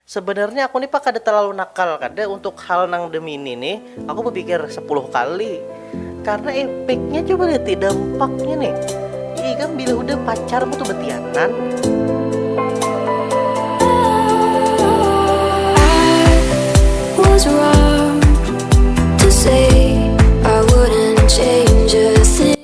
Sebenarnya aku ni pa kada terlalu nakal kada untuk hal nang demini ni aku bepikir sepuluh kali karena epeknya coba liati dampaknya ni ya ikam bila hudah pacarmu tu betianan.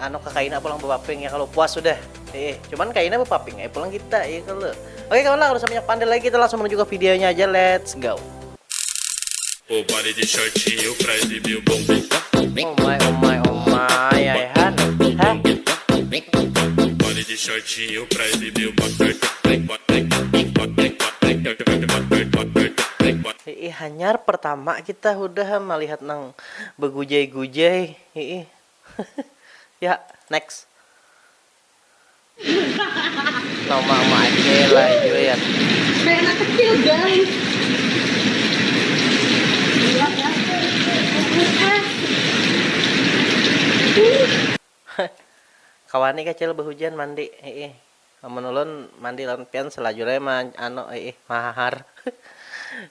anu ke kaina pulang bepaping ya kalau puas sudah eh cuman kaina bepaping eh pulang kita ya kalau oke kawan lah udah banyak pandai lagi kita langsung menuju ke videonya aja let's go oh my oh my oh my ya han hah Ih, hanyar pertama kita udah melihat nang begujai-gujai. Ih, ya next nama ama aja lah iya ya kayak anak kecil guys kawan nih kecil berhujan mandi ih amun ulun mandi lawan pian selajur aja ma anu ih mahahar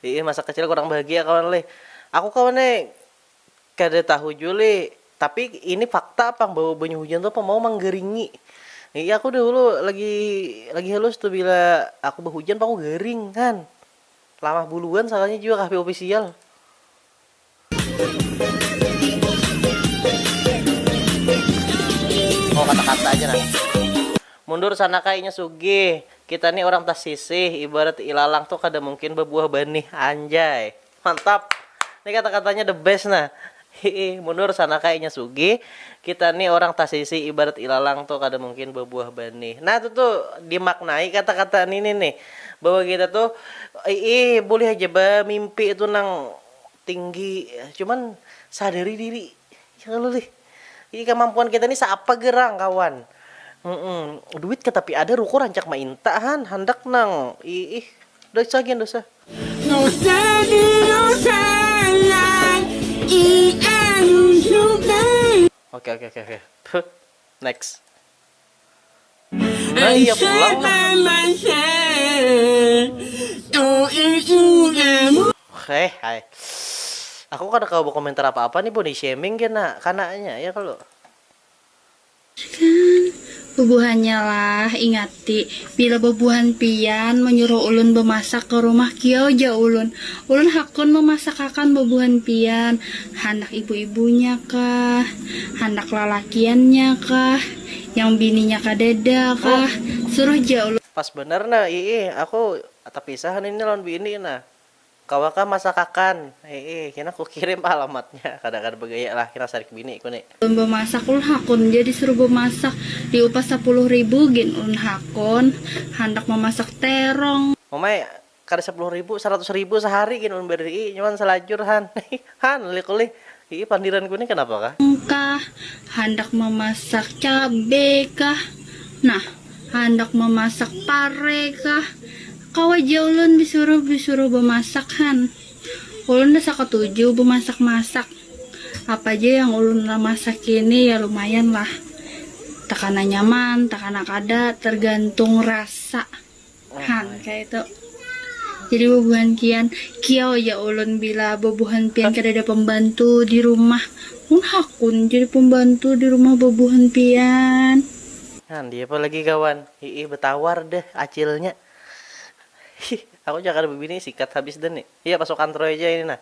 ih masa kecil kurang bahagia kawan leh aku kawan nih Kada tahu jua lih, tapi ini fakta pang bahwa banyu hujan tu apa mau manggaringi. Iya aku dahulu lagi lagi halus tu bila aku bahujan paku garing kan. Lamah buluan sakalinya jua kahp ofisial. Oh kata-kata aja nah. Mundur sana ka inya sugih. Kita ni urang tasisih, ibarat ilalang tu kada mungkin babuah banih. Anjay. Mantap. Ni kata-katanya the best nah. Hiih, mundur sana ka inya sugih. Kita ni orang tasisi ibarat ilalang tu kada mungkin babuah banih. Nah tu tu dimaknai kata-kata nini nih bahwa kita tu iih bulih haja bamimpi tu nang tinggi cuman sadari diri ya kalo lih. Jadi kamampuan kita ni seapa gerang kawan. Duit ka tapi ada ruko rancak mainta han handak nang iih dosa gin dosa. Oke oke oke oke next. Bubuhannya lah, ingati, bila bubuhan pian manyuruh ulun bamasak ka rumah kiau ja ulun. Ulun hakun mamasakakan bubuhan pian, handak ibu-ibunya kah. Handak lalakiannya kah, yang bininya kadada kah, suruh ja ulun. Pas banar nah, iih aku tapisah ini ni lawan bini nah, kawa kah masakakan, iih kena kukirim alamatnya, kada kada bagaya lah kena sarik bini ku ni. Ulun bamasak, ulun hakun ja disuruh bamasak, diupah sapuluh ribu gin ulun hakun handak mamasak terong. Mamai, Kada sapuluh ribu, saratus ribu sahari gin ulun barii nyuan salajur han. Han, ulik ulih, iih pandiranku nih kanapa kah? Kah, handak mamasak cabe kah, nah handak mamasak pare kah, kawa ja ulun disuruh disuruh bamasak han. Ulun dah sakatuju bamasak masak, apa ja yang ulun lah masaki nih ya lumayan lah, takana nyaman takana kada tergantung rasa. Han, kaitu. Jadi bubuhan kian, kio ya ulun bila bubuhan pian kadada pambantu di rumah. Mun hakun jadi pambantu di rumah bubuhan pian. Han, diapa lagi kawan. Hiih batawar deh acilnya. Hih, aku ja kada babini sikat habis dah ni. Iya pasukan troy ja ini nah.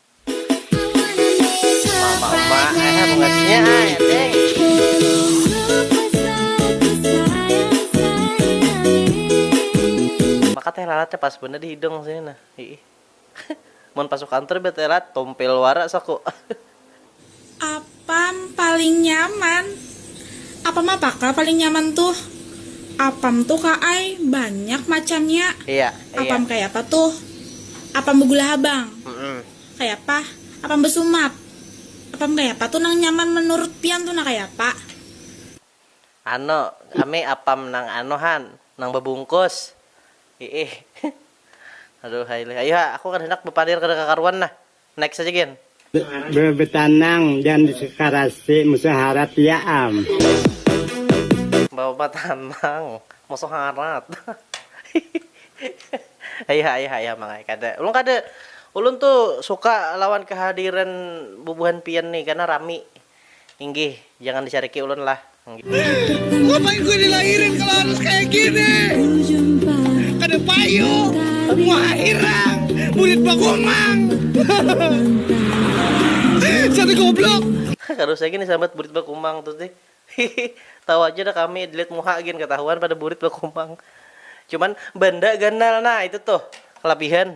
Maka teh lalat nya pas banar di hidung sini nah, hiih. Mun pasukan tur bet teh lalat tumpil wara saku. Apam paling nyaman. Apam apa ka paling nyaman tuh? Apam tuh ka ai banyak macamnya. Iya, iya. Apam kayapa tuh? Apam begula habang. Mm-mm. Kayapa? Apam besumat. Apam kayapa tuh nang nyaman menurut pian tuh nah kayapa? Anu, kami apam nang anu han, nang bebungkus. Iih. Aduhai lih. Ayuha, aku kada handak bepalir kada kakaruan nah. Next aja gin. Bebetanang dan disekarasi musuh harat ya am. Bebetanang musuh harat hihihi ayah ayah ayah mang ai kada ulun kada ulun tu suka lawan kehadiran bubuhan pian ni karna rami Inggih, jangan dicariki ulun lah. Ngapain gue dilahirin kalau harus kayak gini? Kada payu, muha hirang, murid bagomang. Satu goblok. Kada usah gin disambat burit bakumang tu tih. Hihi, tahu aja dah kami dilihat muha gin katahuan pada burit bakumang. Cuman banda ganal nah itu tuh kalabihan.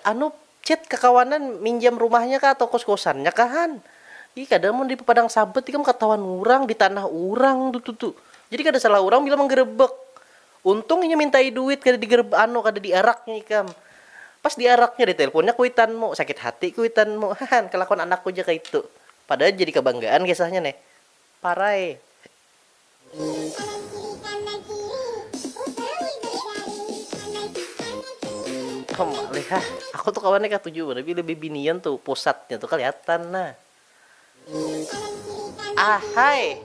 Anu chat kakawanan minjam rumahnya kah atau kos kosannya kah han, ih kada mun di padang sabat ikam katahuan urang di tanah urang tu tu, jadi kada salah urang bila manggerebek, untung inya mintai duit kada di anu kada di araknya ikam, pas di araknya di telponnya kuitanmu, sakit hati kuitanmu hahan kalakuan anakku ja kaitu, padahal jadi kabanggaan kisahnya nih parai. Aku tu kawannya katuju banar bila bibinian tu pusatnya tu kaliatan nah. Ahai.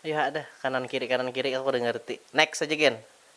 Ayuha dah kanan kiri kanan kiri aku kada ngarti. Next aja gen.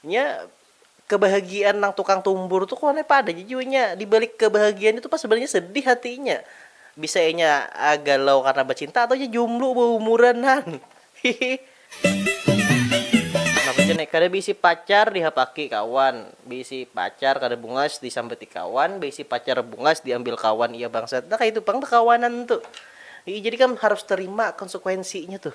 Nya kebahagiaan nang tukang tumbur tu kona pa ada ja jua nya dibalik kebahagiaan itu pa sebenarnya sedih hati inya bisa inya galau karena bacinta atau inya jumblu baumuran han hihi. Kada beisi pacar dihapaki kawan, beisi pacar kada bungas disambati kawan, beisi pacar bungas diambil kawan iya bangsat nah kaitu pang bakawanan tu hihi jadi kam harus terima konsekuensinya tuh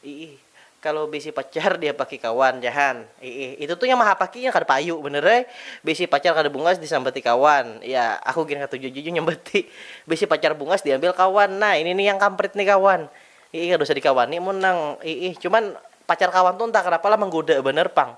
hihi. Kalo bisi pacar diapaki kawan jahan iih itu tu yang mahapaki inya kada payu banar ai bisi pacar kada bungas disambati kawan ya aku gin katuju ja jua nyambati bisi pacar bungas diambil kawan nah ini ni yang kamprit ni kawan iih kada usah dikawani mun nang iih cuman pacar kawan tu entah kenapa lah manggoda banar pang.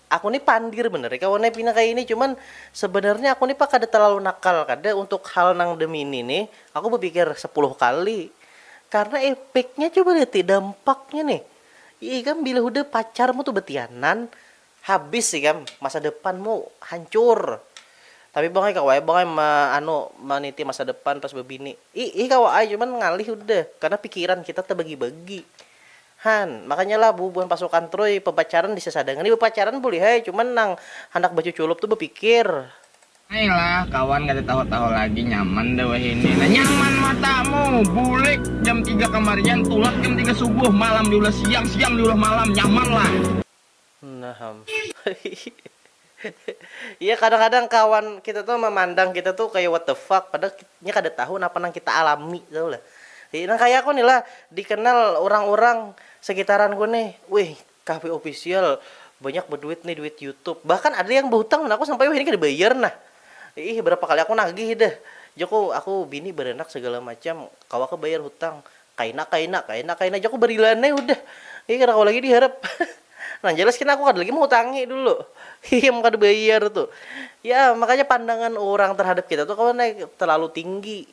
aku ni pandir banar nih kawan ai pina kaya ini cuman sebenarnya aku ni pa kada terlalu nakal kada untuk hal nang demini ni aku bepikir sepuluh kali karena epeknya coba lihat ti dampaknya nih ya ikam bila hudah pacarmu tu betianan habis ikam masa depanmu hancur tapi bang ai kawa ai bang ai ma anu maniti masa depan pas bebini iih kawa ai cuman ngalih hudah karena pikiran kita tebagi-bagi. Han, makanyalah bubuhan pasukan Troy papacaran di sasadangan ni bapacaran buliha ai cuman nang handak bacuculup tu bapikir. Ai lah kawan kada tahu-tahu lagi nyaman dah wahini nah nyaman matamu bulik jam tiga kamarian tulak jam tiga subuh malam diulah siang siang diulah malam nyaman lah. Naham. Iya kadang-kadang kawan kita tuh memandang kita tuh kayak what the fuck padahal nya kada tahu napa nang kita alami tahu lah. Nang kayak aku nih lah dikenal urang-urang sekitaranku nih, wih kahfi official banyak beduit nih duit youtube bahkan ada yang behutang lawan aku sampai wahini kada bayar nah. Iih berapa kali aku nagih dah, jaku aku bini beranak segala macam kawakah bayar hutang Kaina kaina kaina kaina ja ku barilan ai hudah. Ih kada kawa lagi diharap. Nang jelas kena aku kada lagi mahutangi dulu. Hihi mun kada bayar tu. Ya makanya pandangan urang tarhadap kita tu kawan ai talalu tinggi.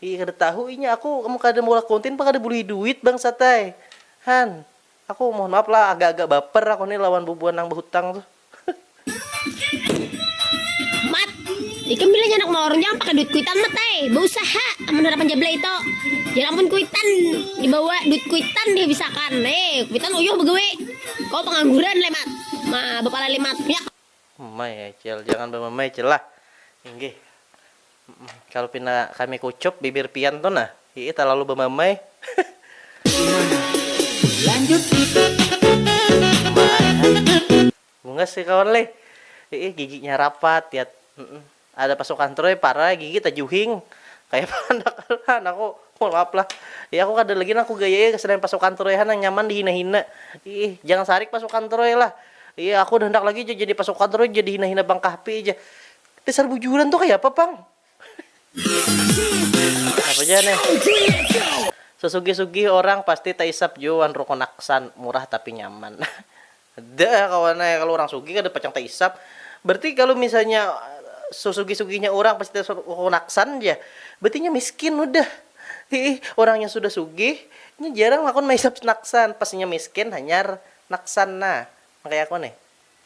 Ih kada tahu inya aku amun kada maulah kontin pang kada bulihi duit bangsat ai. Han. Aku mohon maaf lah agak agak baper aku nih lawan bubuhan nang bahutang tuh. Mat, ikam bila nyanak mawar orang jangan pakai duit kuitan mat ai, bausaha amun harapan jablay itu, jar amun kuitan dibawa duit kuitan dihabisakan, hei kuitan uyuh bagawi, kawa pangangguran leh mat, ma bapala leh mat, yak. Mamai ai cil, jangan bamamai cil lah. Inggih. Kalo pina kami kucup bibir pian tu nah. Hiih talalu bamamai. Bungas ai kawan leh. Hiih giginya rapat yat. Ada pasukan troi parai gigi tajuhing kaya bahandak lah nangku mohon maaf lah ih aku kada lagi nangku gaya ih selain pasukan troi ha nang nyaman dihina hina iih jangan sarik pasukan troi lah ih aku kada handak lagi ja jadi pasukan troi ja dihina hina bang kahfi ja dasar bujuran tu kaya apa pang napa ja nih sesugih sugih orang pasti taisap jua wan rukun aksan murah tapi nyaman. Ada kawan ai kalu urang sugih kada pacang taisap. Berarti kalu misalnya sesugih-sugihnya urang pasti takonaksan ja. Berarti inya miskin hudah. Hiih, urang yang sudah sugih inya jarang hakun maisap naksan. Pas inya miskin hanyar naksan nah. Nang kaya aku nih.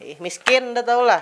Hiih, miskin nda tahulah.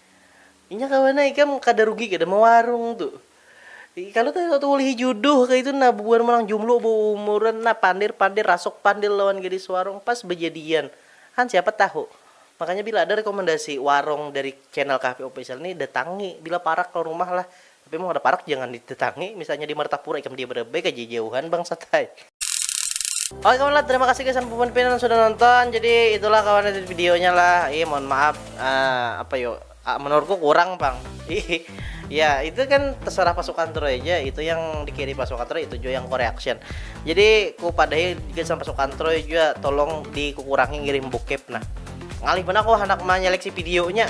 Inya kawa nah ikam kada rugi kada mawarung tu. Kalu taulihi juduh kaitu nah bubuhan manang jumlu baumuran nah pandir pandir rasuk pandil lawan gadis warung pas bajadian han siapa tahu. Makanya bila ada rekomendasi warung dari channel Kahfi Official ni datangi bila parak lawan rumah lah Tapi mun kada parak jangan didatangi, misalnya di Martapura ikam diam banar baik haja jauhan bangsat ai. Oke kawan lah terima kasih gasan puan pian sudah nonton jadi itulah kawan itu videonya lah iya mohon maaf uh, apa yuk uh, menurutku kurang bang ya itu kan terserah pasukan Turo aja itu yang dikiri pasukan Turo itu juga yang koreaction jadi ku padai juga sama pasukan Turo juga tolong dikurangi ngirim bokep nah ngalih mana aku anak menyeleksi videonya